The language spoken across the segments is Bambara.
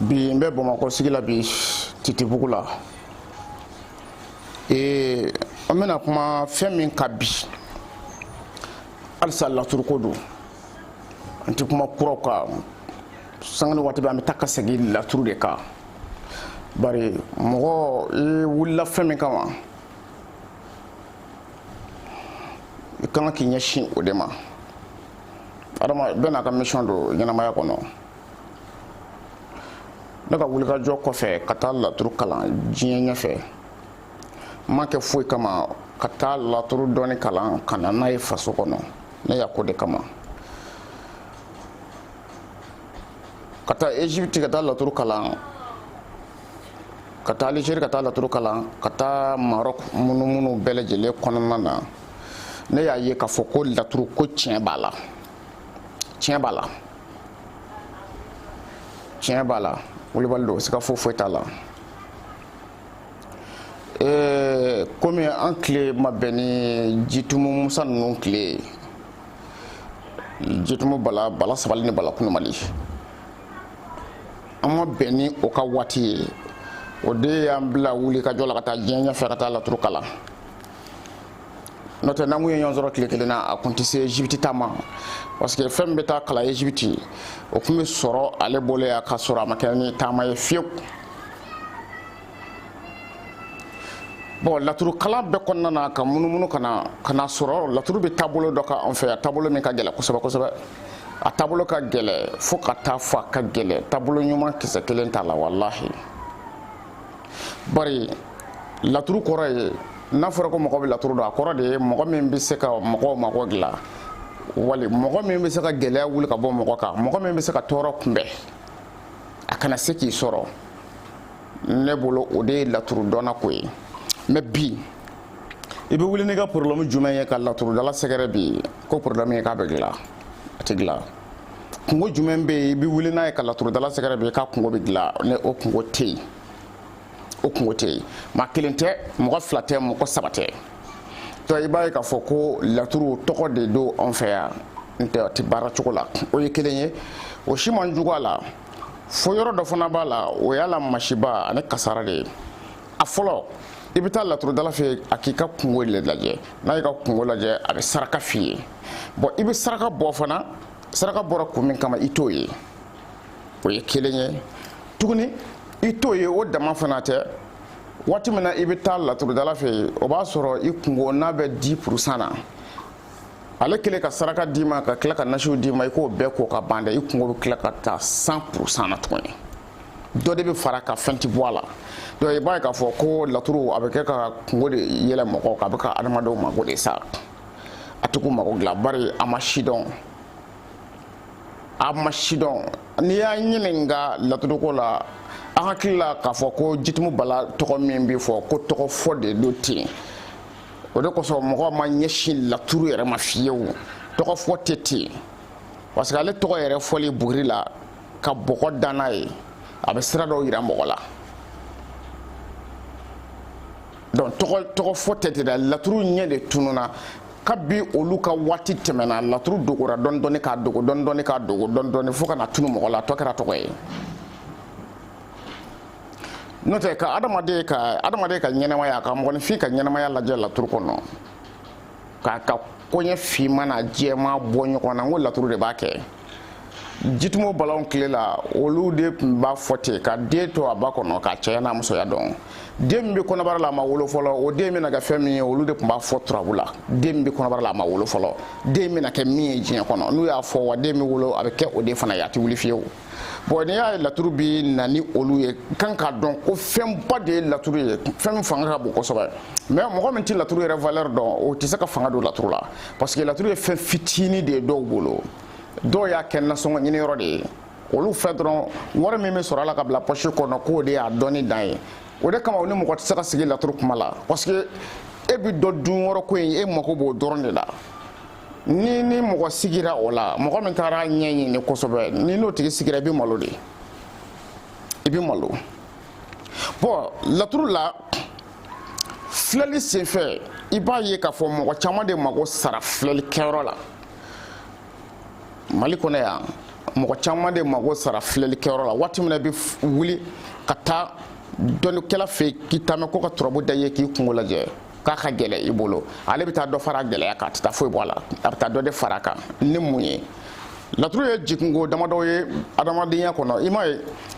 bi n bɛ bamakɔ sigi la bi titibugu la ee an bɛna kuma fɛn min kan bi halisa laturuko don an tɛ kuma kuraw kan sanga ni waati bɛɛ an bɛ taa ka segin laturu de kan bari mɔgɔ i wulila fɛn min kama i kan ka k'i ɲɛsin o de ma adama bɛɛ n'a ka mission don ɲɛnamaya kɔnɔ ne ka wulikajɔ kɔfɛ ka taa laturu kalan diɲɛ ɲɛfɛ n ma kɛ foyi kama ka taa laturu dɔɔni kalan ka na n'a ye faso kɔnɔ ne y'a k'o de kama ka taa egypte ka taa laturu kalan ka taa algérie ka taa laturu kalan ka taa maroc munumunu bɛɛ lajɛlen kɔnɔna na ne y'a ye k'a fɔ ko laturu ko tiɲɛ b'a la tiɲɛ b'a la tiɲɛ b'a la wulibali don siga foyi foyi t'a la ee komi an tile ma bɛn ni jitumu musa ninnu tile ye jitumu bala bala sabali ni bala kunumali an ma bɛn ni o ka waati ye o de y'an bila wulikajɔ la ka taa diɲɛ ɲɛfɛ ka taa laturu kalan n'o tɛ n'an kun ye ɲɔgɔn sɔrɔ tile kelen na a kun tɛ se egypte taa ma parce que fɛn bɛ taa kalan egypte o tun bɛ sɔrɔ ale bolo yan ka sɔrɔ a ma kɛ ni taama ye fiyewu bɔn laturu kalan bɛɛ kɔnɔna na ka munumunu ka na ka n'a sɔrɔ laturu bɛ taabolo dɔ kan an fɛ yan taabolo min ka gɛlɛn kosɛbɛ kosɛbɛ a taabolo ka gɛlɛn fo ka taa fɔ a ka gɛlɛn taabolo ɲuman kisɛ kelen t'a la walahi bari laturu kɔrɔ ye n'a fɔra ko mɔgɔ bɛ laturu dɔn a kɔrɔ de ye mɔgɔ min bɛ se ka mɔgɔw mago dilan wali mɔgɔ min bɛ se ka gɛlɛya wuli ka bɔ mɔgɔ kan mɔgɔ min bɛ se ka tɔɔrɔ kunbɛn a kana se k'i sɔrɔ ne bolo o de ye laturu dɔnna ko ye mɛ bi i bɛ wuli n'i ka porobilɛmu jumɛn ye ka laturudala sɛgɛrɛ bi ko porobilɛmu ye k'a bɛ dilan a tɛ dilan kunko jumɛn bɛ yen i bɛ wuli n'a ye ka laturudala sɛgɛrɛ bi k'a kunko bɛ dilan ne o kunko tɛ yen o kunko tɛ yen maa kelen tɛ mɔgɔ fila tɛ mɔgɔ saba tɛ to i b'a ye k'a fɔ ko laturu tɔgɔ de don anw fɛ yan n'o tɛ a tɛ baara cogo la o ye kelen ye o si man jugu a la fo yɔrɔ dɔ fana b'a la o y'a la masiba ani kasaara de ye a fɔlɔ i bɛ taa laturudala fɛ yen a k'i ka kungo de lajɛ n'a y'i ka kungo lajɛ a bɛ saraka f'i ye bon i bɛ saraka bɔ fana saraka bɔra kun min kama i t'o ye o ye kelen ye tuguni i t'o ye o dama fana tɛ waati min na i bɛ taa laturudala fɛ yen o b'a sɔrɔ i kungo n'a bɛ dix pour cent na ale kelen ka saraka d'i ma ka tila ka nasiw d'i ma i k'o bɛɛ ko ka ban dɛ i kungo bɛ tila ka taa cent pour cent na tuguni dɔ de bɛ fara a kan fɛn ti bɔ a la donc i b'a ye k'a fɔ ko laturu a bɛ kɛ ka kungo de yɛlɛ mɔgɔw kan a bɛ ka adamadenw mago de sa a tɛ k'u mago dilan bari a ma si dɔn a ma si dɔn n'i y'a ɲininka laturuko la an hakili la k'a fɔ ko jitumu bala tɔgɔ min bɛ fɔ ko tɔgɔ fɔ de don ten o de kosɔn mɔgɔ ma ɲɛsin laturu yɛrɛ ma fiyewu tɔgɔ fɔ tɛ ten parce que ale tɔgɔ yɛrɛ fɔli buguri la ka bɔgɔ da n'a ye a bɛ sira dɔw yira mɔgɔ la donc tɔgɔ tɔgɔ fɔ tɛ ten dɛ laturu ɲɛ de tununa kabi olu ka waati tɛmɛna laturu dogora dɔɔni dɔɔni k'a dogo dɔɔni dɔɔni k'a dogo dɔɔni dɔɔni fo ka na tunu mɔgɔ la a tɔ kɛra tɔgɔ ye n'o tɛ ka adamaden ka adamaden ka ɲɛnamaya ka mɔgɔninfin ka ɲɛnamaya lajɛ laturu kɔnɔ k'a ka koɲɛ finman n'a jɛman bɔ ɲɔgɔn na n ko laturu de b'a kɛ jitumu balaw tile la olu de tun b'a fɔ ten ka den to a ba kɔnɔ k'a cɛya n'a musoya dɔn den min bɛ kɔnɔbara la a ma wolo fɔlɔ o den bɛna kɛ fɛn min ye olu de tun b'a fɔ turabu la den min bɛ kɔnɔbara la a ma wolo fɔlɔ den bɛna kɛ min ye diɲɛ kɔnɔ n'u y'a fɔ wa den bɛ wolo a bɛ kɛ o de fana ye a tɛ wuli fiyewu bon n'i y'a ye laturu bi na ni olu ye kan k'a dɔn ko fɛnba de ye laturu ye fɛn min fanga ka bon kosɛbɛ mais mɔgɔ min tɛ laturu yɛrɛ valeur dɔn o tɛ se ka fanga don laturu la parce que laturu ye fɛn fitinin de ye dɔw bolo dɔw y'a kɛ nasɔngɔ ɲiniyɔrɔ de ye olu fɛ dɔrɔn wari min bɛ sɔrɔ a la ka bila poche kɔnɔ k'o de y'a dɔnni dan ye o de kama u ni mɔgɔ tɛ se ka sigi laturu kuma la parce que e bɛ dɔ dun yɔrɔ ko in e mako b'o dɔrɔn de la n'i ni mɔgɔ sigira o la mɔgɔ min taara a ɲɛɲini kosɛbɛ n'i n'o tigi sigira i bɛ malo de i bɛ malo bon laturu la filɛli senfɛ i b'a ye k'a fɔ mɔgɔ caman de mago sara filɛli kɛyɔrɔ la mali kɔnɔ yan mɔgɔ caman de mago sara filɛli kɛyɔrɔ la waati min na i bɛ wuli ka taa dɔnnikɛla fɛ yen k'i taamɛ ko ka turabu da i ye k'i kungo lajɛ k'a ka gɛlɛ i bolo ale bɛ taa dɔ fara a gɛlɛya kan a tɛ taa foyi bɔ a la a bɛ taa dɔ de fara a kan ni mun ye laturu ye jikunko damadɔ ye adamadenya kɔnɔ i m'a ye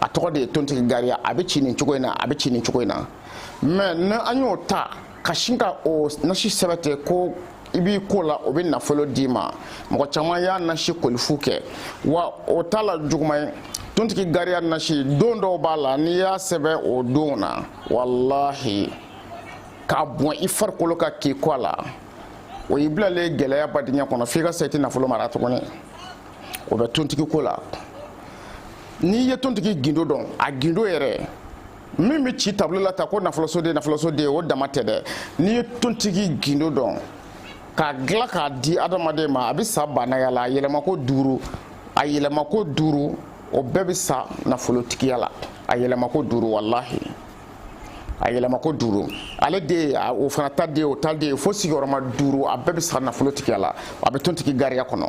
a tɔgɔ de ye tontigi gariya a bɛ ci nin cogo in na a bɛ ci nin cogo in na mɛ ni an y'o ta ka sin ka o nasi sɛbɛn ten ko i b'i ko la o bɛ nafolo d'i ma mɔgɔ caman y'a nasi kolifu kɛ wa o t'a la juguman ye tontigi gariya nasi don dɔw b'a la n'i y'a sɛbɛn o don na walahi k'a bɔn i farikolo kan k'i ko a la o y'i bilalen gɛlɛya badenya kɔnɔ f'i ka sa i tɛ nafolo mara tuguni o bɛ tontigi ko la n'i ye tontigi gindo dɔn a gindo yɛrɛ min bɛ ci tabulo la ta ko nafolosoden nafolosoden o dama tɛ dɛ n'i ye tontigi gindo dɔn k'a dilan k'a di adamaden ma a bɛ sa baanaya la a yɛlɛmako duuru a yɛlɛmako duuru o bɛɛ bɛ sa nafolotigiya la a yɛlɛmako duuru walahi a yɛlɛmako duuru ale de o fana ta de o ta de fo sigiyɔrɔma duuru a bɛɛ bɛ sa nafolotigiya la a bɛ tontigi gariya kɔnɔ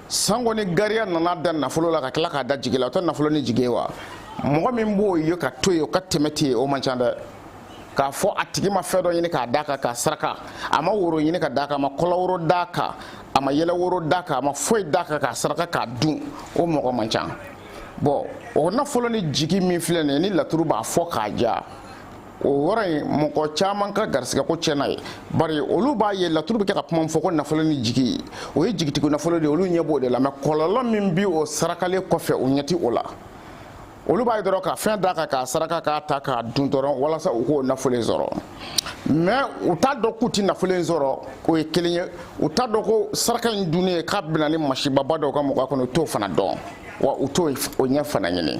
sango ni gariya nana da nafolo la ka tila k'a da jigi la o tɛ nafolo ni jigi ye wa mɔgɔ min b'o ye ka to yen o ka tɛmɛ ten o man ca dɛ k'a fɔ a tigi ma fɛn dɔ ɲini k'a d'a kan k'a saraka a ma woro ɲini ka d'a kan a ma kɔlɔworo d'a kan a ma yɛlɛworo d'a kan a ma foyi d'a kan k'a saraka k'a dun o mɔgɔ man ca bɔn o nafolo ni jigi min filɛ nin ye ni laturu b'a fɔ k'a ja o yɔrɔ in mɔgɔ caman ka garisigɛ ko tiɲɛna yen bari olu b'a ye laturu bɛ kɛ ka kuma fɔ ko nafolo ni jigi o ye jigitigiw nafolo de olu ɲɛ b'o de la mɛ kɔlɔlɔ min bi o sarakalen kɔfɛ o ɲɛ ti o la olu b'a ye dɔrɔn ka fɛn d'a kan k'a saraka k'a ta k'a dun dɔrɔn walasa u k'o nafolo in sɔrɔ mɛ u t'a dɔn k'u ti nafolo in sɔrɔ o ye kelen ye u t'a dɔn ko saraka in dunnen k'a bɛ na ni masibaba dɔw ka mɔgɔ kɔnɔ u t'o fana dɔn wa u t'o ɲɛ fana ɲini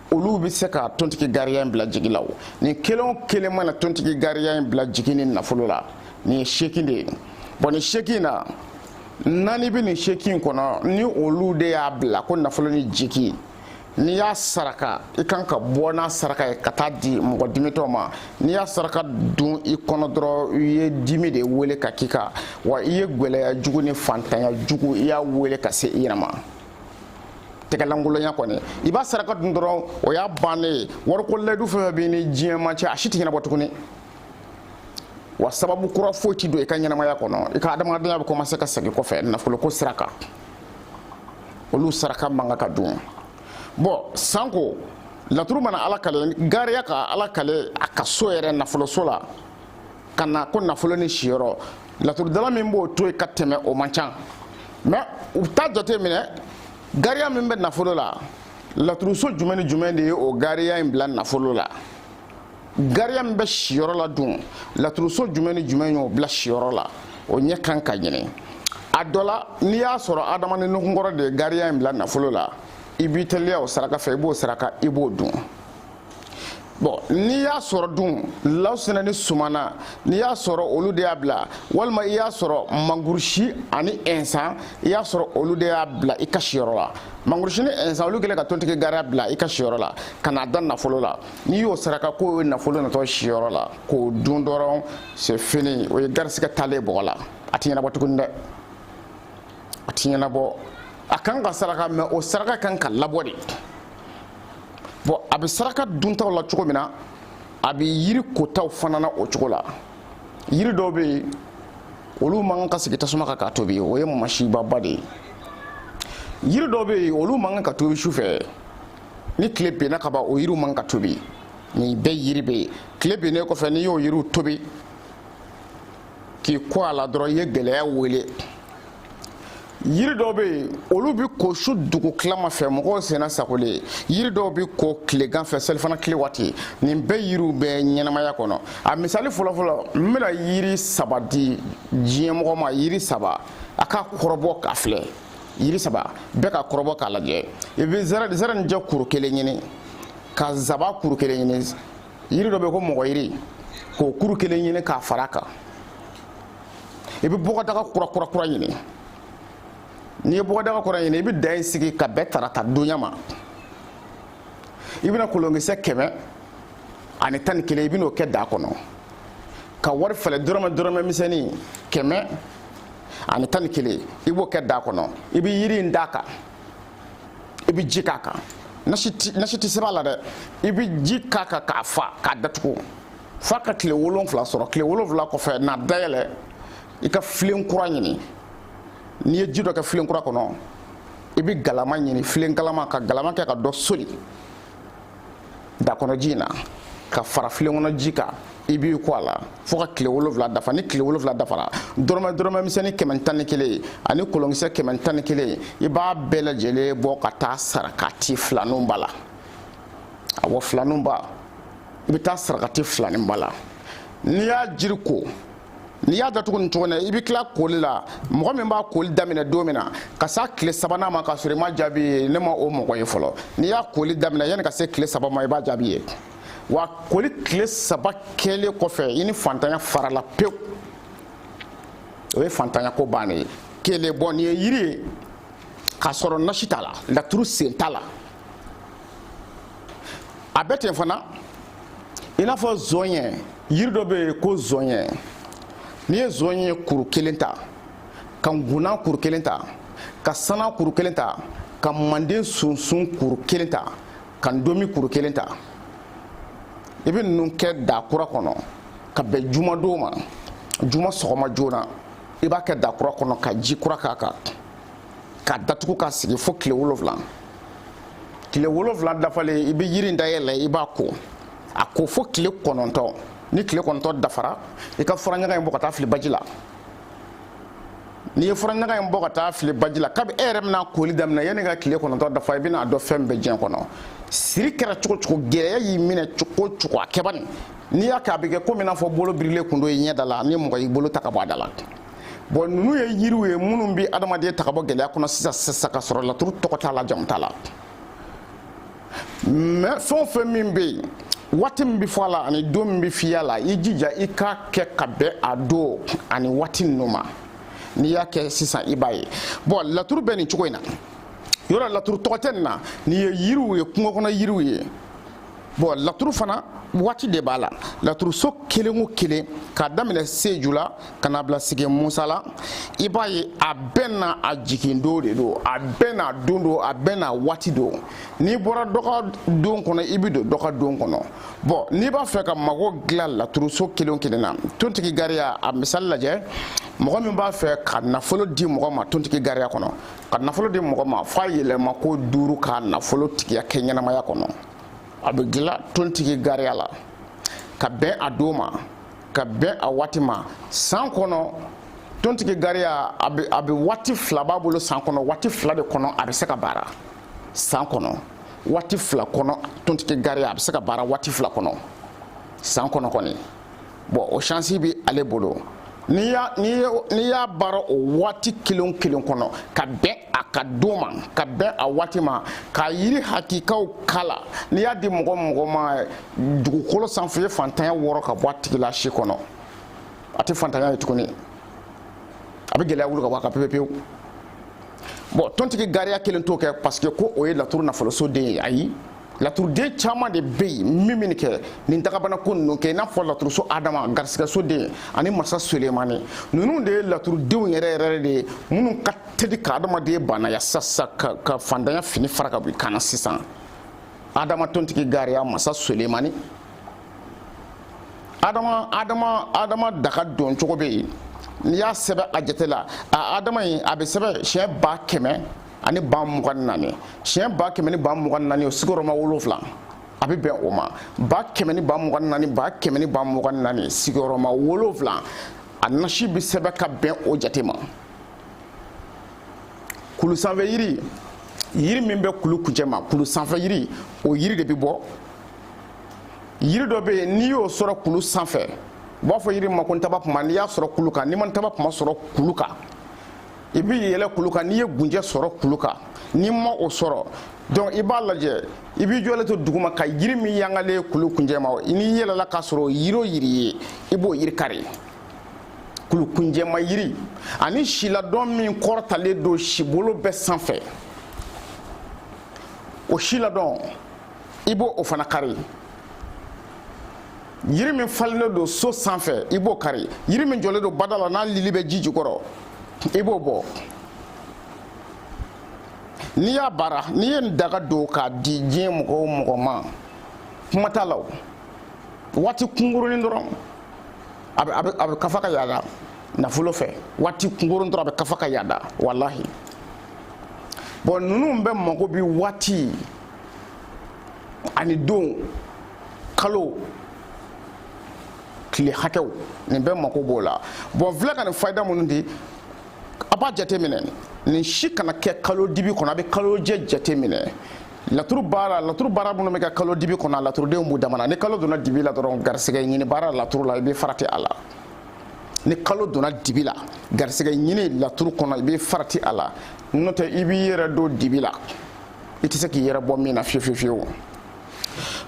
olu bɛ se ka tontigi gariya in bila jigi la o nin kelen o kelen mana tontigi gariya in bila jigi ni nafolo la nin ye seegin de ye bɔn nin seegin in na naani bɛ nin seegin in kɔnɔ ni olu de y'a bila ko nafolo ni jigi n'i y'a saraka i kan ka bɔ n'a saraka ye ka taa di mɔgɔ dimitɔ ma n'i y'a saraka dun i kɔnɔ dɔrɔn i ye dimi de wele ka k'i kan wa i ye gwɛlɛya jugu ni fantanya jugu i y'a wele ka se i yɛrɛ ma tɛgɛlankolonya kɔni i b'a saraka dun dɔrɔn o y'a bannen ye wariko layidu fɛn fɛn b'i ni diɲɛ maa cɛ a si tɛ ɲɛnabɔ tuguni wa sababu kura foyi ti don i ka ɲɛnamaya kɔnɔ i ka adamadenya bɛ kɔmanse ka segin kɔfɛ nafoloko sira kan olu saraka man kan ka dun bɔn sanko laturu mana ala kale gariya ka ala kale a ka so yɛrɛ nafoloso la ka na ko nafolo ni siyɔrɔ laturudala min b'o to yen ka tɛmɛ o man ca mɛ u t'a jate minɛ gariya min bɛ nafolo la laturuso jumɛn ni jumɛn de ye o gariya in bila nafolo la gariya min bɛ siyɔrɔ la dun laturuso jumɛn ni jumɛn y'o bila siyɔrɔ la o ɲɛ kan ka ɲini a dɔ la n'i y'a sɔrɔ adama ni nukunkɔrɔ de ye gariya in bila nafolo la i b'i teliya o saraka fɛ i b'o saraka i b'o dun bɔn n'i y'a sɔrɔ dun lawusina ni sumana n'i y'a sɔrɔ olu de y'a bila walima i y'a sɔrɔ mangurusi ani ɛnsan i y'a sɔrɔ olu de y'a bila i ka siyɔrɔ la mangurusi ni ɛnsan olu kɛlen ka tontigi gariya bila i ka siyɔrɔ la ka n'a da nafolo la n'i y'o saraka k'o ye nafolo natɔ siyɔrɔ la k'o dun dɔrɔn c'est fini o ye garisigɛ taalen bɔgɔ la a ti ɲɛnabɔ tuguni dɛ a ti ɲɛnabɔ a kan ka saraka mɛ o saraka kan ka labɔ de bɔn a bɛ saraka duntaw la cogo min na a bɛ yiri kotaw fana na o cogo la yiri dɔw bɛ yen olu man kan ka sigi tasuma kan k'a tobi o ye masibaba de ye yiri dɔw bɛ yen olu man kan ka tobi su fɛ ni tile benna ka ban o yiriw man kan ka tobi nin bɛɛ yiri bɛ yen tile bennen kɔfɛ n'i y'o yiriw tobi k'i ko a la dɔrɔn i ye gɛlɛya wele yiri dɔw bɛ yen olu bɛ ko su dugutilama fɛ mɔgɔw senna sagolen ye yiri dɔw bɛ ko tilegan fɛ selifana tile waati nin bɛɛ yiriw bɛ ɲɛnamaya kɔnɔ a misali fɔlɔfɔlɔ n bɛna yiri saba di diɲɛmɔgɔ ma yiri saba a ka kɔrɔbɔ k'a filɛ yiri saba bɛɛ ka kɔrɔbɔ k'a lajɛ i bɛ zɛrɛnijɛ kuru kelen ɲini ka zaban kuru kelen ɲini yiri dɔ bɛ yen ko mɔgɔyiri k'o kuru kelen ɲini k'a fara a kan i bɛ bɔgɔdaga kura kura kura ɲini n'i ye bɔgɔdaga kura ɲini i bɛ da in sigi ka bɛn tarata donya ma i bɛna kolonkisɛ kɛmɛ ani tan ni kelen i bɛn'o kɛ da kɔnɔ ka wari fɛlɛ dɔrɔmɛ dɔrɔmɛ misɛnnin kɛmɛ ani tan ni kelen i b'o kɛ da kɔnɔ i bɛ yiri in d'a kan i bɛ ji k'a kan nasi tɛ sɛbɛn a la dɛ i bɛ ji k'a kan k'a fa k'a datugu f'a ka tile wolonfila sɔrɔ tile wolonfila kɔfɛ n'a dayɛlɛ i ka filen kura ɲini n'i ye ji dɔ kɛ filen kura kɔnɔ i bɛ galama ɲini filen galama ka galama kɛ ka dɔ soli da kɔnɔ ji in na ka fara filen kɔnɔ ji kan i b'i ko a la fo ka tile wolonfila dafa ni tile wolonfila dafara dɔrɔmɛ dɔrɔmɛ misɛnnin kɛmɛ tan ni kelen ani kolonkisɛ kɛmɛ tan ni kelen i b'a bɛɛ lajɛlen bɔ ka taa sarakati filaninw ba la awɔ filaninba i bɛ taa sarakati filaninba la n'i y'a jiri ko n'i y'a datugu nin cogo na i bɛ tila koli la mɔgɔ min b'a koli daminɛ don min na ka se tile sabanan ma k'a sɔrɔ i ma jaabi ye ne ma o mɔgɔ ye fɔlɔ n'i y'a koli daminɛ yanni ka se tile saba ma i b'a jaabi ye wa koli tile saba kɛlen kɔfɛ i ni fantanya farala pewu o ye fantanya ko bannen ye kelen bɔn nin ye yiri ye k'a sɔrɔ nasi t'a la laturu sen t'a la a bɛ ten fana i n'a fɔ zɔnyɛ yiri dɔ bɛ yen ko zɔnyɛ n'i ye zɔnyɛ kuru kelen ta ka ngunan kuru kelen ta ka sana kuru kelen ta ka manden sunsun kuru kelen ta ka ndomi kuru kelen ta i bɛ ninnu kɛ da kura kɔnɔ ka bɛn jumadon ma juma sɔgɔma joona i b'a kɛ da kura kɔnɔ ka ji kura k'a kan k'a datugu k'a sigi fo tile wolonwula tile wolonwula dafalen i bɛ yiri in dayɛlɛ i b'a ko a ko fo tile kɔnɔntɔn ni tile kɔnɔntɔn dafara i ka furaɲaga in bɔ ka taa fili baji la n'i ye furaɲaga in bɔ ka taa fili baji la kabi e yɛrɛ bɛna koli daminɛ yanni ka tile kɔnɔntɔn dafa i bɛna a dɔn fɛn bɛɛ diɲɛ kɔnɔ siri kɛra cogo cogo gɛlɛya y'i minɛ cogo cogo a kɛ bani n'i y'a kɛ a bɛ kɛ komi i n'a fɔ bolo birilen kun don i ɲɛda la ni mɔgɔ y'i bolo ta ka bɔ a da la bɔn ninnu ye yiriw ye minnu bɛ adamaden ta ka bɔ gɛlɛya kɔnɔ sisan sisan ka sɔrɔ laturu tɔgɔ t'a la jamu t'a la mais fɛn o fɛn min bɛ yen waati min bɛ fɔ a la ani don min bɛ f'i y'a la i jija i k'a kɛ ka bɛn a don ani waati ninnu ma n'i y'a kɛ sisan i b'a ye bɔn laturu bɛ nin cogo in na yɔrɔ laturu tɔgɔ tɛ nin na nin ye yiriw ye kungo kɔnɔ yiriw ye bɔn laturu fana waati de b'a la laturuso kelen o kelen k'a daminɛ seju la ka n'a bila sigi musa la i b'a ye a bɛɛ n'a jigindon de don a bɛɛ n'a don don a bɛɛ n'a waati don n'i bɔra dɔ ka don kɔnɔ i bɛ don dɔ ka don kɔnɔ bɔn n'i b'a fɛ ka mago dilan laturuso kelen o kelen na tontigi gariya a misali lajɛ mɔgɔ min b'a fɛ ka nafolo di mɔgɔ ma tontigi gariya kɔnɔ ka nafolo di mɔgɔ ma f'a yɛlɛma ko duuru ka nafolotigiya kɛ ɲɛnamaya kɔnɔ a bɛ dilan tontigi gariya la ka bɛn a don ma ka bɛn a waati ma san kɔnɔ tontigi gariya a bɛ waati fila b'a bolo san kɔnɔ waati fila de kɔnɔ a bɛ se ka baara san kɔnɔ waati fila kɔnɔ tontigi gariya a bɛ se ka baara waati fila kɔnɔ san kɔnɔ kɔni bɔn o chance bɛ ale bolo n'i y'a baara o waati kelen kelen kɔnɔ ka bɛn a ka don ma ka bɛn a waati ma ka yiri hakikaw k'a la n'i y'a di mɔgɔ mɔgɔ ma dugukolo sanfɛ o ye fantanya wɔrɔ ka bɔ a tigi la si kɔnɔ a tɛ fantanya ye tuguni a bɛ gɛlɛya wuli ka bɔ a kan pepe pewu bɔn tontigi gariya kelen t'o kɛ parce que ko o ye laturu nafoloso den ye ayi laturuden caman de bɛ yen min min kɛ nin dakabana ko ninnu kɛ i n'a fɔ laturuso adama garisɛgɛso den ani masa sulemani ninnu de ye laturudenw yɛrɛ yɛrɛ de ye minnu ka teli ka adamaden baanaya sasa ka, ka faantanya fini fara ka bɔ i kan na sisan adama tontigi gariya masa sulemani adama adama adama daga don cogo bɛ yen n'i y'a sɛbɛn a jate la a adama in a bɛ sɛbɛn siɲɛ ba kɛmɛ ani ba mugan ni naani siɲɛ ba kɛmɛ ni ba mugan ni naani o sigiyɔrɔma wolonfila a bɛ bɛn o ma ba kɛmɛ ni ba mugan ni naani ba kɛmɛ ni ba mugan ni naani sigiyɔrɔma wolonfila a nasi bɛ sɛbɛn ka bɛn o jate ma kulu sanfɛ yiri yiri min bɛ kulu kuncɛ ma kulu sanfɛ yiri o yiri de bɛ bɔ yiri dɔ bɛ yen n'i y'o sɔrɔ kulu sanfɛ u b'a fɔ yiri ma ko ntabakunba n'i y'a sɔrɔ kulu kan n'i ma ntabakunba sɔrɔ kulu kan i bɛ yɛlɛ kulu kan n'i ye gunjɛ sɔrɔ kulu kan n'i ma o sɔrɔ donc i b'a lajɛ i b'i jɔlen to duguma ka yiri min yangalen ye kulu kuncɛ ma n'i yɛlɛla k'a sɔrɔ yiri o yiri ye i b'o yiri kari kulu kuncɛ ma yiri ani siladɔn min kɔrɔtalen don sibolo bɛɛ sanfɛ o siladɔn i b'o o fana kari yiri min falennen don so sanfɛ i b'o kari yiri min jɔlen don bada la n'a lili bɛ ji jukɔrɔ i b'o bɔ n'i y'a baara n'i ye nin daga don k'a di diɲɛ mɔgɔ o mɔgɔ ma kuma t'a la o waati kunkurunin dɔrɔn a bɛ a bɛ a bɛ ka fa ka yaada nafolo fɛ waati kunkurunin dɔrɔn a bɛ ka fa ka yaada walahi bon ninnu bɛɛ mago bi waati ani don kalo tile hakɛw nin bɛɛ mako b'o la bon filɛ ka nin fayida minnu di a b'a jateminɛ nin si kana kɛ kalo dibi kɔnɔ a bɛ kalo jɛ jateminɛ laturu baara laturu baara minnu bɛ kɛ kalo dibi kɔnɔ a laturudenw b'u dama na ni kalo donna dibi la dɔrɔn garisɛgɛ ɲini baara laturu la i bɛ farati a la ni kalo donna dibi la garisɛgɛ ɲini laturu kɔnɔ i bɛ farati a la n'o tɛ i b'i yɛrɛ don dibi la i tɛ se k'i yɛrɛ bɔ min na fiyewu fiyewu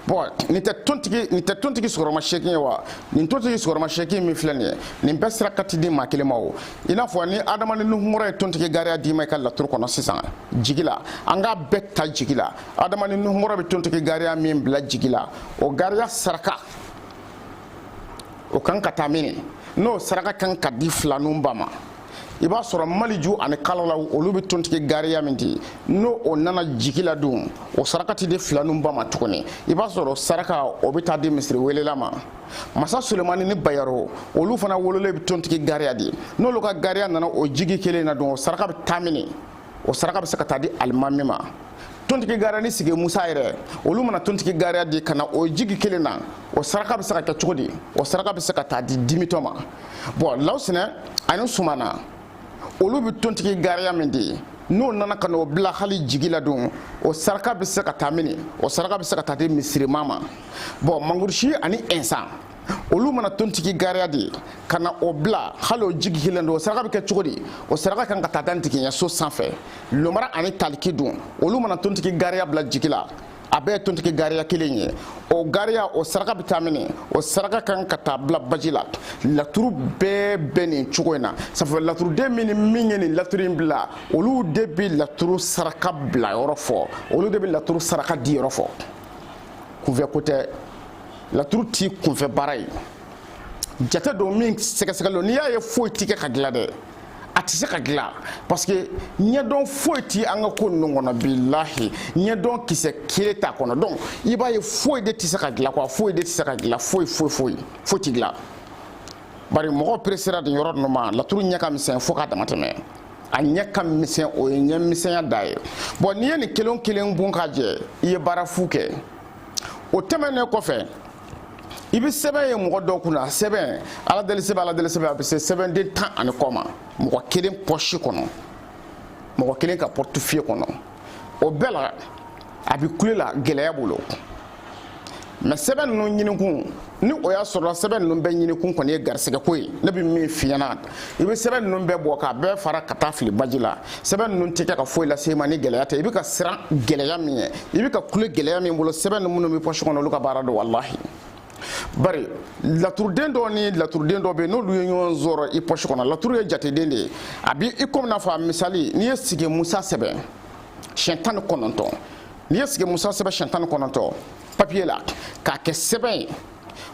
bon nin tɛ tontigi nin tɛ tontigi sigiyɔrɔma seegin ye wa nin tontigi sigiyɔrɔma seegin min filɛ nin ye nin bɛɛ saraka tɛ di maa kelen ma o i n'a fɔ ni adama ni nuhunkɔrɔ ye tontigi gariya d'i ma i ka laturu kɔnɔ sisan jigi la an k'a bɛɛ ta jigi la adama ni nuhunkɔrɔ bɛ tontigi gariya min bila jigi la o gariya saraka o kan ka taa min n'o saraka kan ka di filaninw ba ma i b'a sɔrɔ maliju ani kalalaw olu bɛ tontigi gariya min di n'o o nana jigi la dun o saraka tɛ di filaninw ba ma tuguni i b'a sɔrɔ saraka o bɛ taa di misiri welela ma masa sulemani ni bayaro olu fana wololen bɛ tontigi gariya di n'olu ka gariya nana o jigi kelen na dun o saraka bɛ taa mini o saraka bɛ se ka taa di alimami ma tontigi gariya ni sigi musa yɛrɛ olu mana tontigi gariya di ka na o jigi kelen na o saraka bɛ se ka kɛ cogo di o saraka bɛ se ka taa di dimitɔ ma bon lawusinɛ ani sumana olu bɛ tontigi gariya min di n'o nana ka n'o bila hali jigi la don o saraka bɛ se ka taa mini o saraka bɛ se ka taa di misiriman ma bon mangurusi ani ɛnsan olu mana tontigi gariya di ka na o bila hali o jigi kelen don o saraka bɛ kɛ cogo di o saraka kan ka taa da ntigiɲɛso sanfɛ lomara ani taliki dun olu mana tontigi gariya bila jigi la a bɛɛ ye tontigi gariya kelen ye o gariya o saraka bɛ taa mini o saraka kan ka taa bila baji la laturu bɛɛ bɛ nin cogo in na sabu laturuden min ni min ye nin laturu in bila olu de bɛ laturu saraka bila yɔrɔ fɔ olu de bɛ laturu saraka di yɔrɔ fɔ kunfɛ ko tɛ laturu ti kunfɛ baara ye jate don min sɛgɛsɛgɛlen don n'i y'a ye foyi ti kɛ ka dilan dɛ a tɛ se ka dilan parce que ɲɛdɔn foyi ti an ka ko ninnu kɔnɔ bilahi ɲɛdɔn kisɛ kelen t'a kɔnɔ donc i b'a ye foyi de tɛ se ka dilan quoi foyi de tɛ se ka dilan foyi foyi foyi foyi ti dilan bari mɔgɔw peresera nin yɔrɔ ninnu ma laturu ɲɛ ka misɛn fo k'a dama tɛmɛ a ɲɛ ka misɛn o ye ɲɛ misɛnya dan ye bon n'i ye nin kelen kelen bon k'a jɛ i ye baara fu kɛ o tɛmɛnen kɔfɛ i bɛ sɛbɛn ye mɔgɔ dɔw kunna sɛbɛn ala deli sɛbɛn ala deli sɛbɛn a bɛ se sɛbɛnden tan ani kɔ ma mɔgɔ kelen pɔsi kɔnɔ mɔgɔ kelen ka portefeuille kɔnɔ o bɛɛ la a bɛ kule la gɛlɛya bolo mais sɛbɛn ninnu ɲinikun ni o y'a sɔrɔ sɛbɛn ninnu bɛɛ ɲinikun kɔni ye garisɛgɛ ko ye ne bɛ min f'i ɲɛna i bɛ sɛbɛn ninnu bɛɛ bɔ k'a bɛɛ fara ka taa fili baji la sɛbɛn ninnu tɛ kɛ ka foyi lase i ma ni gɛlɛya tɛ i bɛ ka siran gɛlɛya min ɲɛ i bɛ ka kule gɛlɛya min bolo sɛbɛn ninnu minnu bɛ pɔsi kɔnɔ olu ka baara don walahi bari laturuden dɔ ni laturuden dɔ bɛ yen n'olu ye ɲɔgɔn sɔrɔ i pɔsi kɔnɔ laturu ye jateden de ye a bɛ i komi n'a fɔ a misali n'i ye sigi musa sɛbɛn siɲɛ tan ni kɔnɔntɔn n'i ye sigi musa sɛbɛn siɲɛ tan ni kɔnɔntɔn papiye la k'a kɛ sɛbɛn ye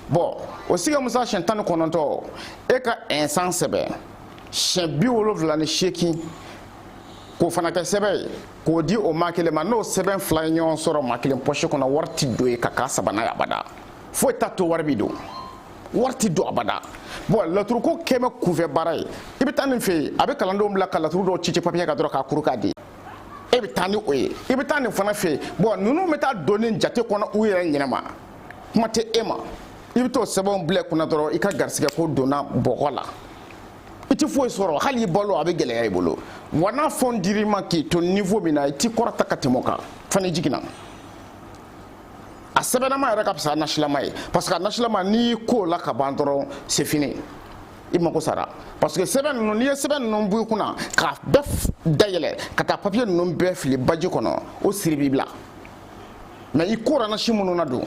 bon o sigi musa siyɛn tan ni kɔnɔntɔn e ka ɛnsan sɛbɛn siyɛn bi wolonfila ni seegin k'o fana kɛ sɛbɛn ye k'o di o maa kelen ma n'o sɛbɛn fila ye ɲɔgɔn sɔrɔ maa kelen pɔsi kɔnɔ wari ti don ye ka k'a sabanan ye abada foyi t'a to wari bi don wari ti don abada bon laturuko kɛmɛ kunfɛ baara ye i bɛ taa nin fɛ yen a bɛ kalandenw bila ka laturu dɔw ci ci papiye kan dɔrɔn k'a kuru k'a di e bɛ taa ni o ye i bɛ taa nin fana fɛ yen bon ninnu bɛ taa don nin jate kɔnɔ u yɛrɛ ɲɛnama kuma tɛ e ma i bɛ t'o sɛbɛnw bila kunna dɔrɔn i ka garisigɛ ko donna bɔgɔ la i tɛ foyi sɔrɔ hali i balo a bɛ gɛlɛya i bolo wa n'a fɛn dir'i ma k'i to niveau min na i ti kɔrɔta ka tɛmɛ o kan fana jiginna a sɛbɛnnama yɛrɛ ka fisa nasilama ye parce que a nasilama n'i y'i ko o la ka ban dɔrɔn c'est fini i mako sara parce que sɛbɛn ninnu n'i ye sɛbɛn ninnu bɔ i kunna k'a bɛɛ dayɛlɛ ka taa papiye ninnu bɛɛ fili baji kɔnɔ o siri b'i bila mais i kora nasi minnu na don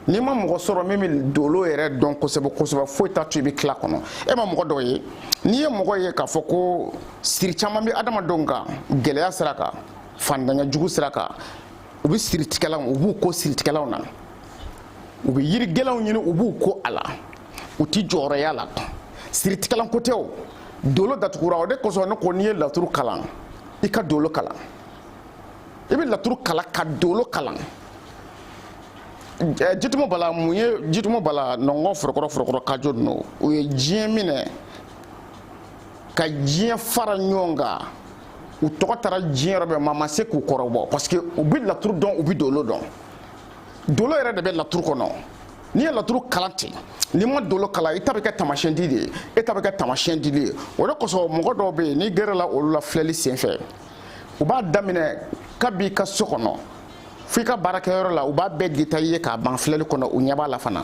n'i ma mɔgɔ sɔrɔ min bɛ dolo yɛrɛ dɔn kosɛbɛ kosɛbɛ foyi t'a to i bɛ tila kɔnɔ e ma mɔgɔ dɔw ye n'i ye mɔgɔ ye k'a fɔ ko siri caman bɛ adamadenw kan gɛlɛya sira kan fantanya jugu sira kan u bɛ siritigɛlanw u b'u ko siritigɛlanw na u bɛ yiri gɛlɛnw ɲini u b'u ko a la u tɛ jɔyɔrɔya la siritigɛlan ko tɛ o dolo datugura o de kosɔn ne ko n'i ye laturu kalan i ka dolo kalan i bɛ laturu kalan ka dolo kalan jitumu bala mun ye jitumu bala nɔngɔn forokɔrɔ forokɔrɔ kajo ninnu u ye diɲɛ minɛ ka diɲɛ fara ɲɔgɔn kan u tɔgɔ taara diɲɛ yɔrɔ bɛɛ maa ma se k'u kɔrɔbɔ parce que u bɛ laturu dɔn u bɛ dolo dɔn dolo yɛrɛ de bɛ laturu kɔnɔ n'i ye laturu kalan ten n'i ma dolo kalan i ta bɛ kɛ taamasiyɛn di de ye e ta bɛ kɛ taamasiyɛn dili ye o de kosɔn mɔgɔ dɔw bɛ yen n'i gɛrɛla olu la filɛli senfɛ u b'a daminɛ kab'i ka so kɔnɔ f'i ka baarakɛyɔrɔ la u b'a bɛɛ détaillé k'a ban filɛli kɔnɔ u ɲɛ b'a la fana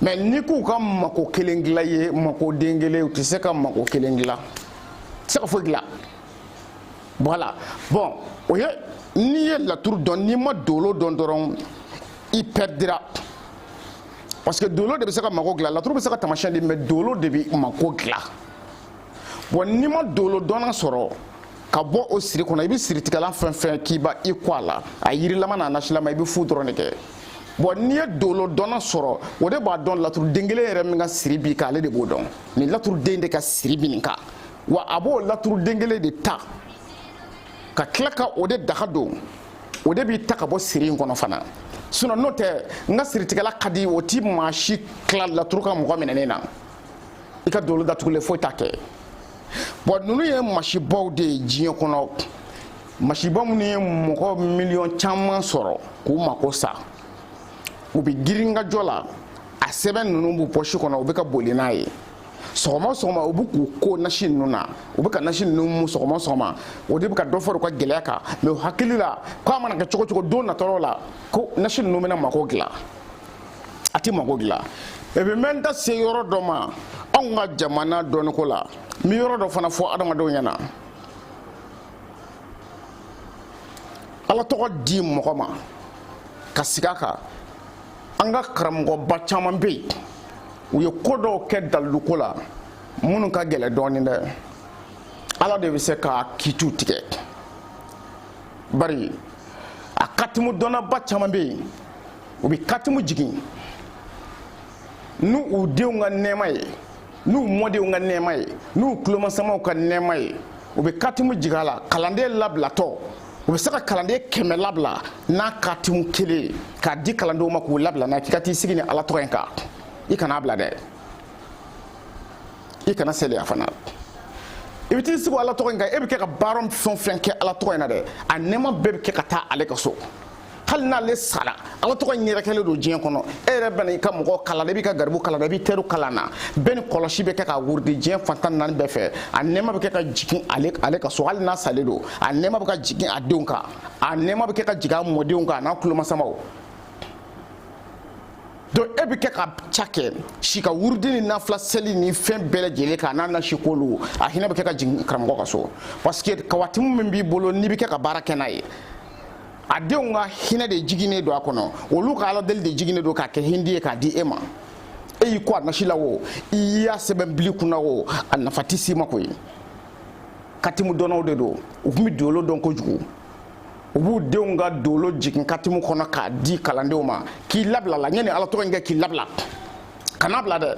mais n'i k'u ka mako kelen dilan i ye mako den kelen u tɛ se ka mako kelen dilan tɛ se ka foyi dilan voilà bon o ye n'i ye laturu dɔn n'i ma dolo dɔn dɔrɔn i pɛridira parce que dolo de bɛ se ka mako dilan laturu bɛ se ka taamasiyɛn di mais dolo de bɛ mako dilan bon n'i ma dolo dɔnna sɔrɔ ka bɔ o siri kɔnɔ i bɛ siritigɛlan fɛn fɛn k'i ba i ko a la a yirilama n'a nasilama i bɛ fu dɔrɔn de kɛ bon n'i ye dolo dɔnna sɔrɔ o de b'a dɔn laturuden kelen yɛrɛ min ka siri b'i kan ale de b'o dɔn nin laturuden de ka siri bi nin kan wa a b'o laturuden kelen de ta ka tila ka o de daga don o de b'i ta ka bɔ siri in kɔnɔ fana sinon n'o tɛ n ka siritigɛla ka di o ti maa si tila laturu ka mɔgɔ minɛnen na i ka dolo datugulen foyi t'a kɛ bon ninnu ye masibaw de ye diɲɛ kɔnɔ masiba minnu ye mɔgɔ miliyɔn caman sɔrɔ k'u mako sa u bɛ girin ka jɔ la a sɛbɛn ninnu b'u pɔsi kɔnɔ u bɛ ka boli n'a ye sɔgɔma sɔgɔma u bɛ k'u ko nasi ninnu na u bɛ ka nasi ninnu mu sɔgɔma sɔgɔma o de bɛ ka dɔ fara u ka gɛlɛya kan mais u hakili la k'a mana kɛ cogo cogo don natɔ dɔ la ko nasi ninnu bɛna mako dilan a tɛ mako dilan et puis n bɛ n da se yɔrɔ dɔ ma anw ka jamana dɔnniko la n bɛ yɔrɔ dɔ fana fɔ adamadenw ɲɛna ala tɔgɔ di mɔgɔ ma ka sigi a kan an ka karamɔgɔba caman bɛ yen u ye ko dɔw kɛ daliluko la minnu ka gɛlɛn dɔɔnin dɛ ala de bɛ se ka kiitiw tigɛ bari a katimu dɔnnaba caman bɛ yen u bɛ katimu jigin ni u denw ka nɛɛma ye n'u mɔdenw ka nɛɛma ye n'u tulomasamaw ka nɛɛma ye u bɛ katimu jigin a la kalanden labilatɔ u bɛ se ka kalanden kɛmɛ labila n'a katimu kelen ye k'a di kalandenw ma k'u labila n'a k'i ka t'i sigi ni ala tɔgɔ in kan i kana bila dɛ i kana seliya fana i bɛ t'i sigi ala tɔgɔ in kan e bɛ kɛ ka baara fɛn o fɛn kɛ ala tɔgɔ in na dɛ a nɛɛma bɛɛ bɛ kɛ ka taa ale ka so hali n'ale sara ala tɔgɔ in yɛrɛkɛlen don diɲɛ kɔnɔ e yɛrɛ bɛna i ka mɔgɔ kalan i b'i ka garibu kalan i b'i teriw kalan na bɛɛ ni kɔlɔsi bɛ kɛ ka wurudi diɲɛ fan tan ni naani bɛɛ fɛ a nɛɛma bɛ kɛ ka jigin ale ale ka so hali n'a salen don a nɛɛma bɛ ka jigin a denw kan a nɛɛma bɛ kɛ ka jigin a mɔdenw kan a n'a tulomasamaw donc e bɛ kɛ ka ca kɛ si ka wurudi ni nafila seli ni fɛn bɛɛ lajɛlen k'a n'a nasi k'olu a hinɛ bɛ kɛ ka jigin karamɔgɔ ka so parce que kawatimu min b'i bolo n'i bɛ kɛ ka baara kɛ n'a ye a denw ka hinɛ de jiginnen don a kɔnɔ olu ka ala deli de jiginnen don k'a kɛ hindi ye k'a di e ma e y'i ko a nasi la o i y'a sɛbɛn bil'i kun na o a nafa tɛ s'i ma koyi katimu dɔnnaw de don u tun bɛ dolo dɔn kojugu u b'u denw ka dolo jigin katimu kɔnɔ k'a di kalandenw ma k'i labila la ɲɛ ni ala tɔgɔ in kɛ k'i labila kana bila dɛ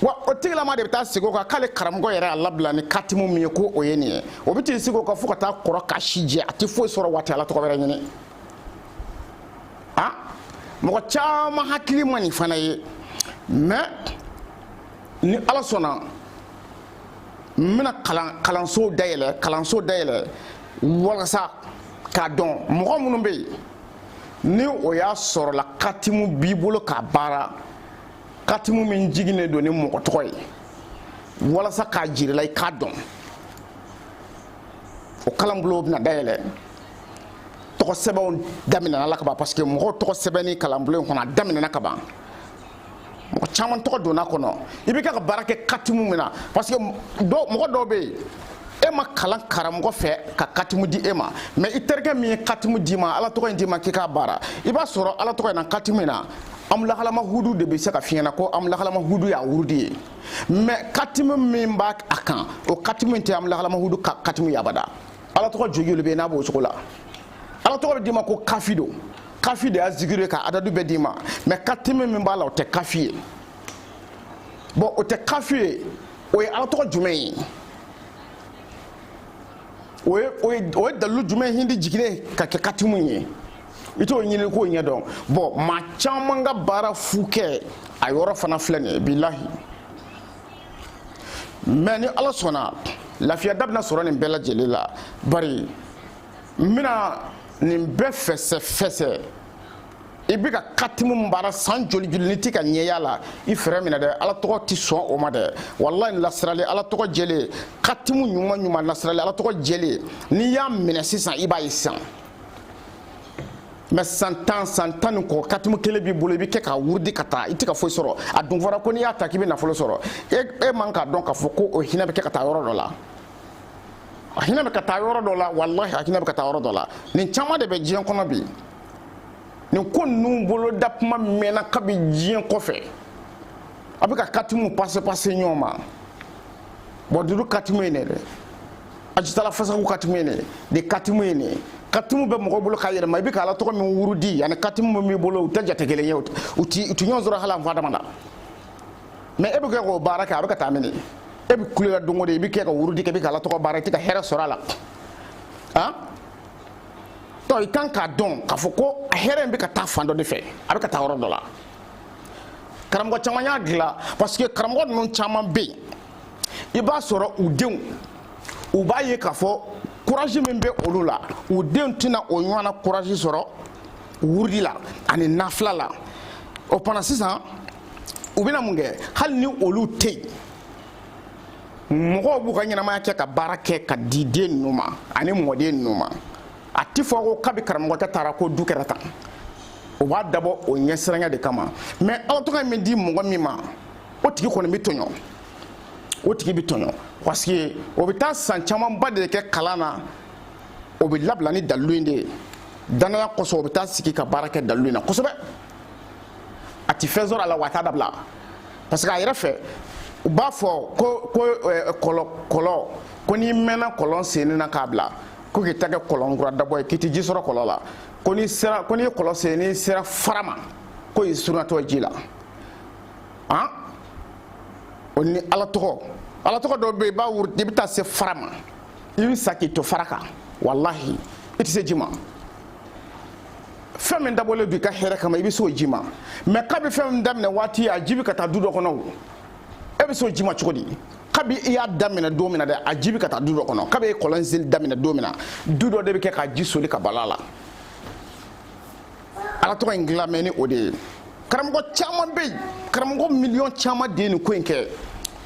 wa o tigilama de bɛ taa sigi o kan k'ale karamɔgɔ yɛrɛ y'a labila ni katimu min ye ko o ye nin ye o bɛ t'i sigi o kan fo ka taa kɔrɔ k'a si jɛ a tɛ foyi sɔrɔ wa a tɛ ala tɔgɔ wɛrɛ ɲini a mɔgɔ caman hakili ma nin fana ye mais ni ala sɔnna n bɛna kalan kalanso dayɛlɛ kalanso dayɛlɛ walasa k'a dɔn mɔgɔ minnu bɛ yen ni o y'a sɔrɔ la katimu b'i bolo k'a baara katimu min jiginnen don ni mɔgɔ tɔgɔ ye walasa k'a jir'i la i k'a dɔn o kalanbulon bɛna dayɛlɛ tɔgɔ sɛbɛnw daminɛna la ka ban parce que mɔgɔw tɔgɔ sɛbɛnni kalanbulon in kɔnɔ a daminɛna ka ban mɔgɔ caman tɔgɔ donna kɔnɔ i bɛ kɛ ka baara kɛ katimu min na parce que mɔgɔ dɔw bɛ yen e ma kalan karamɔgɔ fɛ ka katimu di e ma mais i terikɛ min ye katimu d'i ma ala tɔgɔ in d'i ma k'i k'a baara i b'a sɔrɔ ala tɔgɔ in na katimu in na amulahalama hudu de bɛ se k'a f'i ɲɛ na ko amulahalama hudu y'a wurudi ye mais katimu min b'a a kan o katimu in tɛ amulahalama hudu ka katimu ye abada ala tɔgɔ jojoli bɛ yen n'a b'o cogo la ala tɔgɔ bɛ d'i ma ko kafi don kafi de y'a zikiri ye ka adadu bɛɛ d'i ma mais katimu min b'a la o tɛ kafi ye bon o tɛ kafi ye o ye ala tɔgɔ jumɛn ye o ye o ye o ye dalilu jumɛn hindi jiginnen ka kɛ katimu ye i t'o ɲini k'o ɲɛ dɔn bon maa caman ka baara fu kɛ a yɔrɔ fana filɛ nin ye bilahi mais ni ala sɔnna lafiya da bɛna sɔrɔ nin bɛɛ lajɛlen la bari n bɛna nin bɛɛ fɛsɛ fɛsɛ i bɛ ka katimu baara san joli joli n'i tɛ ka ɲɛ y'a la i fɛɛrɛ minɛ dɛ ala tɔgɔ tɛ sɔn o ma dɛ walayi lasirali ala tɔgɔ jɛlen katimu ɲuman ɲuman lasirali ala tɔgɔ jɛlen n'i y'a minɛ sisan i b'a ye sisan mais san tan san tan ni kɔ katimu kelen b'i bolo i bɛ kɛ k'a wurudi ka taa i tɛ ka foyi sɔrɔ a dun fɔra ko n'i y'a ta k'i bɛ nafolo sɔrɔ e e man k'a dɔn k'a fɔ ko o hinɛ bɛ kɛ ka taa yɔrɔ dɔ la a hinɛ bɛ ka taa yɔrɔ dɔ la walahi a hinɛ bɛ ka taa yɔrɔ dɔ la nin caman de bɛ diɲɛ kɔnɔ bi nin ko ninnu boloda kuma mɛnna kabi diɲɛ kɔfɛ a bɛ ka katimu pase pase ɲɔgɔn ma bon dudu katimu ye ne dɛ ajitala fasaku katimu ye ne de katimu ye ne katimu bɛ mɔgɔ bolo ka yɛlɛma i bɛ ka ala tɔgɔ min wurudi ani katimu min b'i bolo u tɛ jate kelen ye u ti ɲɔgɔn sɔrɔ hali an fadama na mais e bɛ kɛ k'o baara kɛ a bɛ ka taa mini e bɛ kule la don o don i bɛ kɛ ka wurudi kɛ i bɛ ka ala tɔgɔ baara i tɛ ka hɛrɛ sɔrɔ a la han donc i kan k'a dɔn k'a fɔ ko a hɛrɛ in bɛ ka taa fan dɔ de fɛ a bɛ ka taa yɔrɔ dɔ la karamɔgɔ caman y'a dilan parce que karamɔgɔ ninnu caman bɛ yen i b'a sɔrɔ u denw u b'a ye k'a fɔ courage min bɛ olu la u denw tɛna o ɲɔgɔnna courage sɔrɔ wurudi la ani nafila la o fana sisan u bɛna mun kɛ hali ni olu tɛ yen mɔgɔw b'u ka ɲɛnamaya kɛ ka baara kɛ ka di den ninnu ma ani mɔden ninnu ma a ti fɔ ko kabi karamɔgɔkɛ taara ko du kɛra tan o b'a dabɔ o ɲɛsiranya de kama mais ala tɔgɔ min di mɔgɔ min ma o tigi kɔni bɛ tɔɲɔ o tigi bɛ tɔɲɔ parce que o bɛ taa san camanba de kɛ kalan na o bɛ labila ni dalilu in de ye dannaya kosɔn o bɛ taa sigi ka baara kɛ dalilu in na kosɛbɛ a ti fɛn sɔrɔ a la wa a t'a dabila parce que a yɛrɛ fɛ u b'a fɔ ko ko eh, kɔlɔn kɔlɔn ko n'i mɛnna kɔlɔn senni na k'a bila ko k'i ta kɛ kɔlɔn kura dabɔ ye k'i ti ji sɔrɔ kɔlɔn la ko n'i sera ko n'i ye kɔlɔn sen n'i sera fara ma ko i surunyatɔ ji la han o ni ala tɔgɔ ala tɔgɔ dɔ bɛ yen i b'a wuru i bɛ taa se fara ma i bɛ sa k'i to fara kan walahi i tɛ se ji ma fɛn min dabɔlen don i ka hɛrɛ kama i bɛ s'o ji ma mais kabi fɛn min daminɛ waati a ji bɛ ka taa du dɔ kɔnɔ o e bɛ s'o ji ma cogo di kabi i y'a daminɛ don min na dɛ a ji bɛ ka taa du dɔ kɔnɔ kabi e ye kɔlɔn senni daminɛ don min na du dɔ de bɛ kɛ ka ji soli ka b'a la ala tɔgɔ in dilan mɛ ni o de ye karamɔgɔ caman bɛ yen karamɔgɔ miliyɔn caman de ye nin ko in kɛ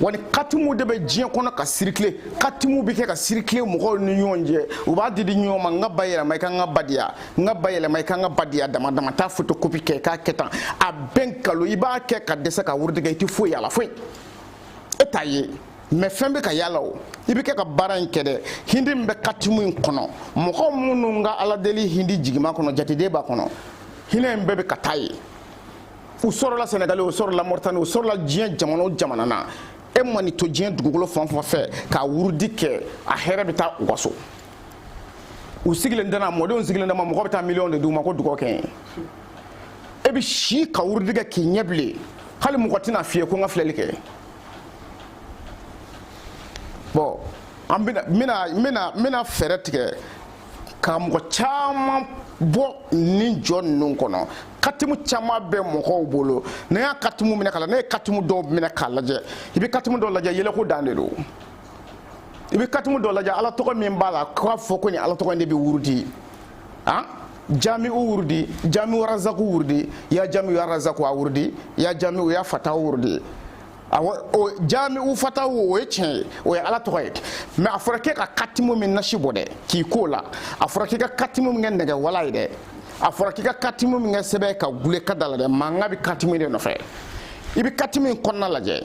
wa nin katimu de bɛ diɲɛ kɔnɔ ka circuler katimu bɛ kɛ ka circuler mɔgɔw ni ɲɔgɔn cɛ u b'a di di ɲɔgɔn ma n ka ba yɛlɛma i ka n ka ba di yan n ka ba yɛlɛma i ka n ka ba di yan dama dama taa fotokopi kɛ k'a kɛ tan a bɛɛ nkalon i b'a kɛ ka dɛsɛ ka wurudi kɛ i tɛ foyi y'a la foyi e t'a ye mɛ fɛn bɛ ka yala o i bɛ kɛ ka baara in kɛ dɛ hindi min bɛ katimu in kɔnɔ mɔgɔ minnu ka ala deli hindi jigima kɔnɔ jate de b'a kɔnɔ hinɛ in bɛɛ bɛ ka taa ye u sɔrɔla sɛnɛgali u sɔrɔla mɔritani u sɔrɔla diɲɛ jamana o jamana na e mana to diɲɛ dugukolo fan fan fɛ ka wurudi kɛ a hɛrɛ bɛ taa u ka so u sigilen dama mɔdenw sigilen dama mɔgɔ bɛ taa miliyɔn de d'u ma ko dugaw kɛ n ye e bɛ si ka wurudi kɛ k'i ɲɛ bilen hali mɔgɔ tɛna f'i ye ko n ka filɛli kɛ bon an bɛna bɛna bɛna bɛna fɛɛrɛ tigɛ ka mɔgɔ caman bɔ nin jɔ ninnu kɔnɔ katimu caman bɛ mɔgɔw bolo ne y'a katimu minɛ k'a la ne ye katimu dɔw minɛ k'a lajɛ i bɛ katimu dɔw lajɛ yɛlɛko dan de don i bɛ katimu dɔw lajɛ ala tɔgɔ min b'a la k'a fɔ ko nin ala tɔgɔ in de bɛ wurudi an jami'u wurudi jami'u razaku wurudi ya jami'u razaku a wurudi ya jami'u ya fata wurudi o jami'u fata wo o ye tiɲɛ ye o ye ala tɔgɔ ye mɛ a fɔra k'e ka katimu min nasi bɔ dɛ k'i ko a la a fɔra k'i ka katimu min kɛ nɛgɛ wala ye dɛ a fɔra k'i ka katimu min kɛ sɛbɛn ka gule ka da la dɛ mankan bɛ katimu de nɔfɛ i bɛ katimu in kɔnɔna lajɛ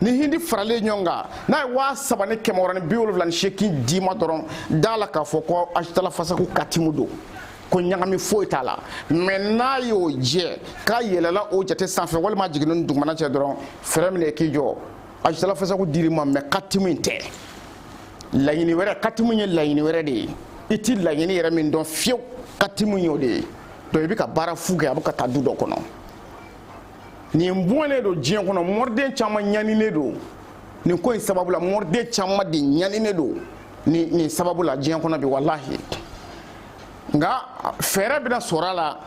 ni hindi faralen ɲɔgɔn kan n'a ye waa saba ni kɛmɛ wɔɔrɔ ni bi wolonwula ni seegin d'i ma dɔrɔn d'a la k'a fɔ ko ajitala fasaku katimu don ko ɲagami foyi t'a la mɛ n'a y'o jɛ k'a yɛlɛla o jate sanfɛ walima jiginna o dugumana cɛ dɔrɔn frein minɛ i k'i jɔ ajitala fasaku dir'i ma mɛ katimu in tɛ laɲini wɛrɛ katimu ye laɲini wɛrɛ de ye i ti laɲini yɛrɛ min dɔn fiyewu katimu y'o de ye donc i bɛ ka baara fu kɛ a bɛ ka taa du dɔ kɔnɔ nin bɔnnen don diɲɛ kɔnɔ mɔriden caman ɲaninen don nin ko in sababu la mɔriden caman de ɲaninen don nin nin sababu la diɲɛ kɔnɔ bi walahi nka fɛɛrɛ bɛna sɔrɔ a la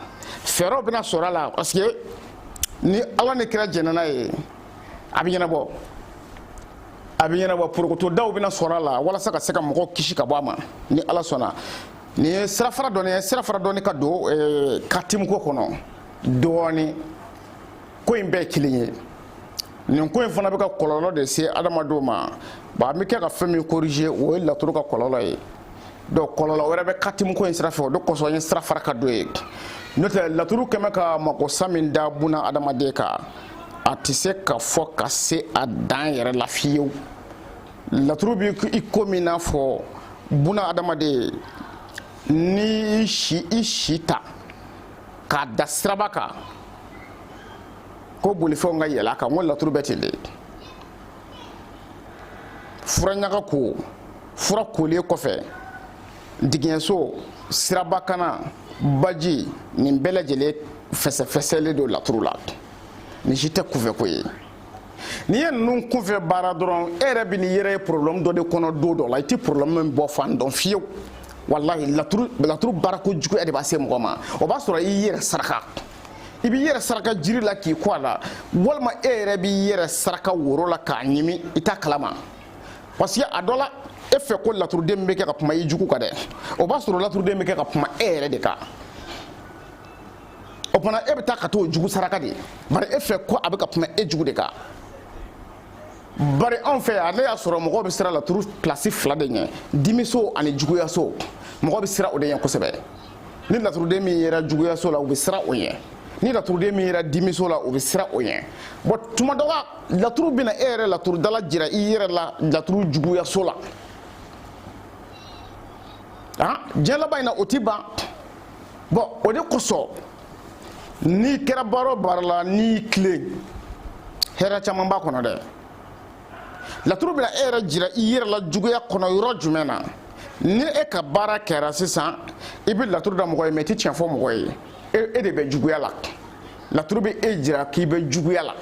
fɛɛrɛw bɛna sɔrɔ a la parce que ni ala ni kira jɛnna n'a ye a bɛ ɲɛnabɔ a bɛ ɲɛnabɔ porokotodaw bɛna sɔrɔ a la walasa ka se ka mɔgɔw kisi ka bɔ a ma ni ala sɔnna nin ye sirafara dɔɔni ye sirafara dɔɔni ka don eh, katimu ko kɔnɔ dɔɔni ko in bɛɛ kelen ye nin ko in fana bɛ ka kɔlɔlɔ de se adamadenw ma bon an bɛ kɛ ka fɛn min corriger o ye laturu ka kɔlɔlɔ ye donc kɔlɔlɔ wɛrɛ bɛ katimu ko in sira fɛ o de kosɔn n ye sira fara ka don yen n'o tɛ laturu kɛmɛ ka magosa min da buna adamaden kan a tɛ se ka fɔ ka se a dan yɛrɛ la fiyewu laturu bɛ i komi n'a fɔ buna adamaden n'i y'i si i si ta k'a da siraba kan ko bolifɛnw ka yɛlɛ a kan o laturu bɛ ten de fura ɲaga ko fura kolen kɔfɛ digiɲɛso siraba kanna baji nin bɛɛ lajɛlen fɛsɛfɛsɛlen don laturu la nin si tɛ kunfɛko ye n'i ye ninnu kunfɛ baara dɔrɔn e yɛrɛ bɛ n'i yɛrɛ ye problème dɔ de kɔnɔ don dɔ la i tɛ problème min bɔ fan dɔn fiyewu walahi laturu baarakojuguya de b'a se mɔgɔ ma o b'a sɔrɔ i y'i yɛrɛ saraka i b'i yɛrɛ saraka jiri la k'i ko a la walima e yɛrɛ b'i yɛrɛ saraka woro la k'a ɲimi i t'a kalama parce que a dɔ la e fɛ ko laturuden bɛ kɛ ka kuma i jugu kan dɛ o b'a sɔrɔ laturuden bɛ kɛ ka kuma e yɛrɛ de kan o fana e bɛ taa ka t'o jugu saraka de bari e fɛ ko a bɛ ka kuma e jugu de kan bari anw fɛ yan ne y'a sɔrɔ mɔgɔ bɛ siran laturu place fila de ɲɛ dimiso ani juguyaso mɔgɔ bɛ siran o de ɲɛ kosɛbɛ ni laturuden min yera juguyaso la u bɛ siran o ɲɛ ni laturuden min yera dimiso la u bɛ siran o ɲɛ bɔn tuma dɔ la laturu bɛna e yɛrɛ laturudala jira i yɛrɛ la laturu juguyaso la diɲɛ laban in na o ti ban bɔn o de kosɔn n'i kɛra baara o baara la n'i tilen hɛrɛ caman b'a kɔnɔ dɛ laturu bɛna e yɛrɛ jira i yɛrɛ la juguya kɔnɔ yɔrɔ jumɛn na ni e ka baara kɛra sisan i bɛ laturu da mɔgɔ ye mɛ i tɛ tiɲɛ fɔ mɔgɔ ye e de bɛ juguya la laturu bɛ e jira k'i bɛ juguya la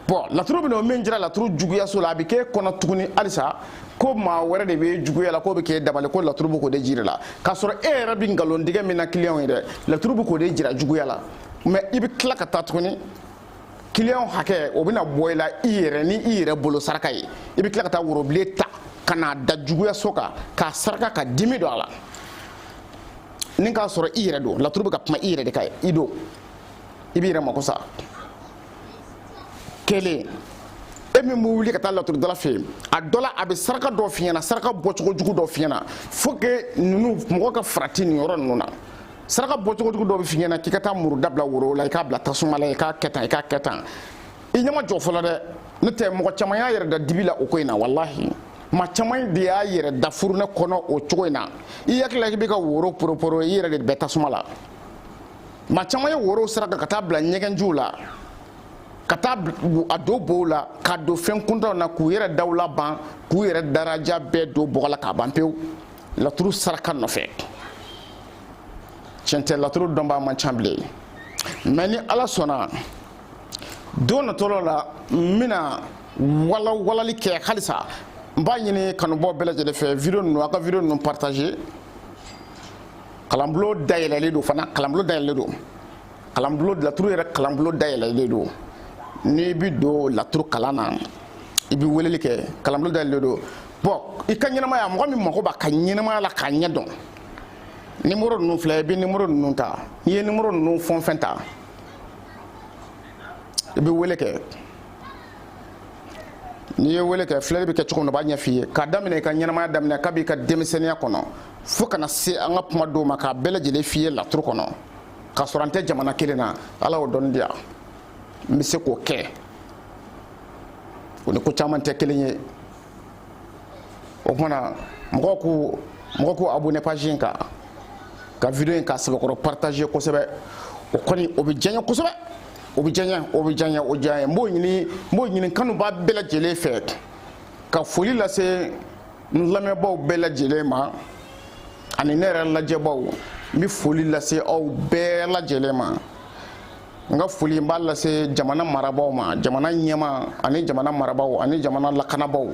bɔn laturu bɛ na o min jira laturu juguyaso la a bɛ k'e kɔnɔ tuguni halisa ko maa wɛrɛ de bɛ juguya la k'o bɛ k'e dabali ko laturu bɛ k'o de jira la k'a sɔrɔ e yɛrɛ bɛ nkalontigɛ min na kiliyanw ye dɛ laturu bɛ k'o de jira juguya la mɛ i bɛ tila ka taa tuguni kiliyanw hakɛ o bɛna bɔ i la i yɛrɛ ni i yɛrɛ bolo saraka ye i bɛ tila ka taa worobilen ta ka n'a da juguyaso kan k'a saraka ka dimi don a la ni k'a sɔrɔ i yɛrɛ don laturu bɛ ka kuma i yɛrɛ de kan i don i b'i yɛrɛ mako sa kelen e min bɛ wuli ka taa laturudala fɛ yen a dɔ la a bɛ saraka dɔ f'i ɲɛna saraka bɔcogo jugu dɔ f'i ɲɛna faut que ninnu mɔgɔ ka farati nin yɔrɔ ninnu na saraka bɔcogo jugu dɔ bɛ f'i ɲɛna k'i ka taa muru da bila woro la i k'a bila tasuma la i k'a kɛ tan i k'a kɛ tan i ɲɛ ma jɔ fɔlɔ dɛ n'o tɛ mɔgɔ caman y'a yɛrɛ da dibi la o ko in na walahi maa caman de y'a yɛrɛ da furunɛ kɔnɔ o cogo in na i hakili la k'i bɛ ka woro poroporo i yɛrɛ de bɛ tasuma la maa caman ye worow saraka ka taa bila ɲɛgɛnjiw la ka taa a don bow la ka don fɛn kuntanw na k'u yɛrɛ dawula ban k'u yɛrɛ daraja bɛɛ don bɔgɔ la k'a ban pewu laturu saraka nɔfɛ tiɲɛ tɛ laturu dɔnbaa man ca bilen mɛ ni ala sɔnna don natɔ la n bɛna walawalali kɛ halisa n b'a ɲini kanubaa bɛɛ lajɛlen fɛ vidéo ninnu a ka vidéo ninnu partager kalanbulon dayɛlɛlen don fana kalanbulon dayɛlɛlen don kalanbulon laturu yɛrɛ kalanbulon dayɛlɛlen don n'i bi don laturu kalan na i bi weleli kɛ kalanbulon dayɛlɛlen don bɔn i ka ɲɛnamaya mɔgɔ min mago b'a ka ɲɛnamaya la k'a ɲɛ dɔn nimoro ninnu filɛ i bɛ nimoro ninnu ta n'i ye nimoro ninnu fɛn o fɛn ta i bɛ wele kɛ n'i ye wele kɛ filɛli bɛ kɛ cogo min na u b'a ɲɛf'i ye k'a daminɛ i ka ɲɛnamaya daminɛ kab'i ka denmisɛnninya kɔnɔ fo ka na se an ka kuma don ma k'a bɛɛ lajɛlen f'i ye laturu kɔnɔ k'a sɔrɔ an tɛ jamana kelen na ala y'o dɔnni di yan n bɛ se k'o kɛ o ni ko caman tɛ kelen ye o tumana mɔgɔw k'u mɔgɔw k'u abonné page in kan ka video in k'a sɛbɛkɔrɔ partager kosɛbɛ o kɔni o bɛ diya n ye kosɛbɛ o bɛ diya n ye o bɛ diya n ye o diya n ye n b'o ɲini n b'o ɲini n kanubaa bɛɛ lajɛlen fɛ ka foli lase n lamɛnbaaw bɛɛ lajɛlen ma ani ne yɛrɛ lajɛbaaw n bɛ foli lase aw bɛɛ lajɛlen ma n ka foli n b'a lase jamana marabaaw ma jamana ɲɛmaa ani jamana marabaaw ani jamana lakanabaaw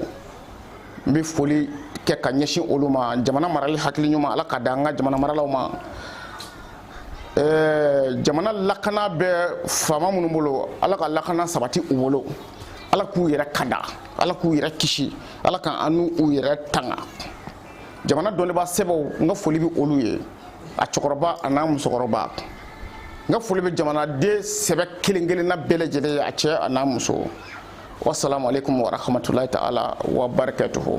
n bɛ foli kɛ ka ɲɛsin olu ma jamana marali hakili ɲuman ala k'a di an ka jamana maralaw ma ɛɛ jamana lakana bɛ faama minnu bolo ala ka lakana sabati u bolo ala k'u yɛrɛ kanda ala k'u yɛrɛ kisi ala ka an n'u yɛrɛ tanga jamana dɔnnibaa sɛbɛw n ka foli bɛ olu ye a cɛkɔrɔba a n'a musokɔrɔba n ka foli bɛ jamanaden sɛbɛ kelen kelenna bɛɛ lajɛlen ye a cɛ a n'a muso wasalaamu alekum warahmatulahi taala wa barakatuhu